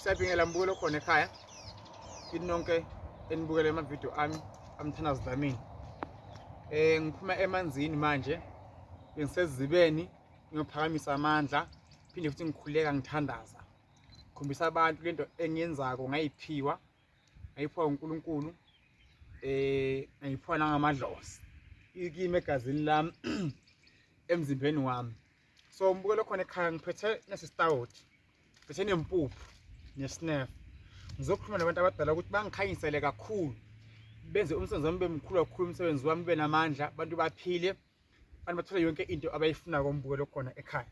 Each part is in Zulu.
siyabingelela mbukelo khona ekhaya kini nonke enibukele amavidiyo ami amthandazi dlamini um ngiphuma emanzini manje bengisezibeni ngiyophakamisa amandla phinde futhi ngikhuleka ngithandaza khombisa abantu lento engiyenzako ngayiphiwa ngayiphiwa uNkulunkulu eh ngayiphiwa nangamadlozi ikime egazini lami emzimbeni wami so ngibukele khona ekhaya ngiphethe nesistawoti ngiphethe nempuphu nesnef ngizokhuluma nabantu abadala ukuthi bangikhanyisele kakhulu benze umsebenzi wami bemkhulu kakhulu umsebenzi wami ube namandla abantu baphile abantu bathole yonke into abayifuna kombukelo khona ekhaya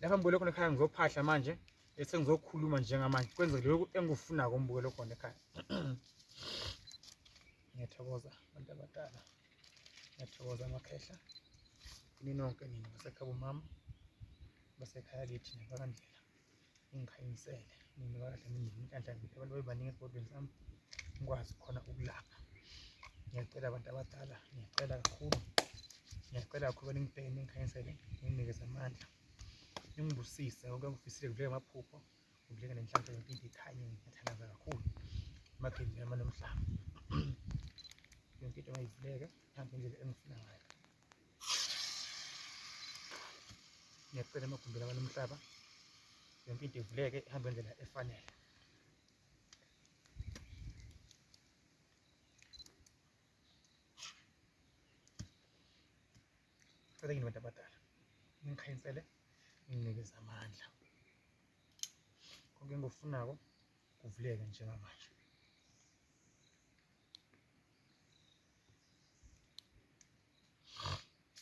lapha mbukelo khona ekhaya ngizophahla manje bese ngizokhuluma njengamanje kwenzeke lokhu engikufuna kombukelo khona ekhaya ngiyathokoza abantu abadala ngiyathokoza amakhehla ini nonke nini basekhaya bomama basekhaya kithi nabakandlela ungikhanyisele mina kahle mina inhlanhla ngithi abantu bebaningi esigodweni sami ngikwazi khona ukulapha ngiyacela abantu abadala ngiyacela kakhulu ngiyacela kakhulu beningibheke ningikhanyisele ninginikeze amandla ningibusise konke engifisile kudleke amaphupho kudleke nenhlanhla ngempilo ikhanye ngiyathandaza kakhulu emakheni yami nomhlaba yonke into mayivuleke ihambe indlela engifuna ngayo ngiyacela amagumbi lawa nomhlaba yonke into ivuleke ihambe indlela efanele cela kini bantu abadala ningikhayinsele nginikeza amandla konke engikufunako kuvuleke njengamanje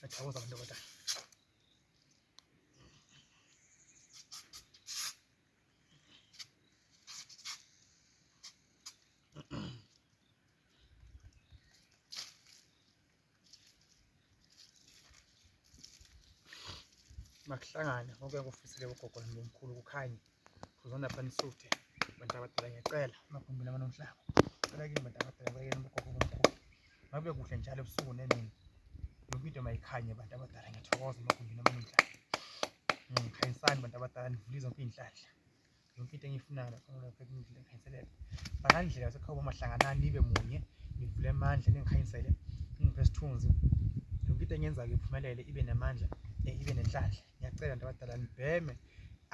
Athokoza ndoda. makuhlangane konke kufisile ugogo nomkhulu kukhanye uzona phana isuthe abantu abadala ngiyacela amagumbi lama nomhlaba cela kini bantu abadala bayekeni ubugogo bomkhulu ngabe kuhle njalo ebusuku nemini yonke into mayikhanye bantu abadala ngiyathokoza amagumbi lama nomhlaba ngikhanyisani bantu abadala nivule zonke iy'nhlanhla yonke into engiyifunayo lapha lapha ngidlule ngikhanyiselele bakandlela yasekhawuba mahlanganani nibe munye nivule amandla ningikhanyisele ningiphe isithunzi yonke into engenza-ke iphumelele ibe namandla eh, ibe nenhlanhla ngiyacela nto abadala nibheme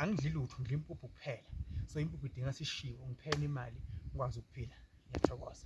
angidli lutho ngidla impuphu kuphela so impuphu idinga sishiwo ngiphele imali ngikwazi ukuphila ngiyathokoza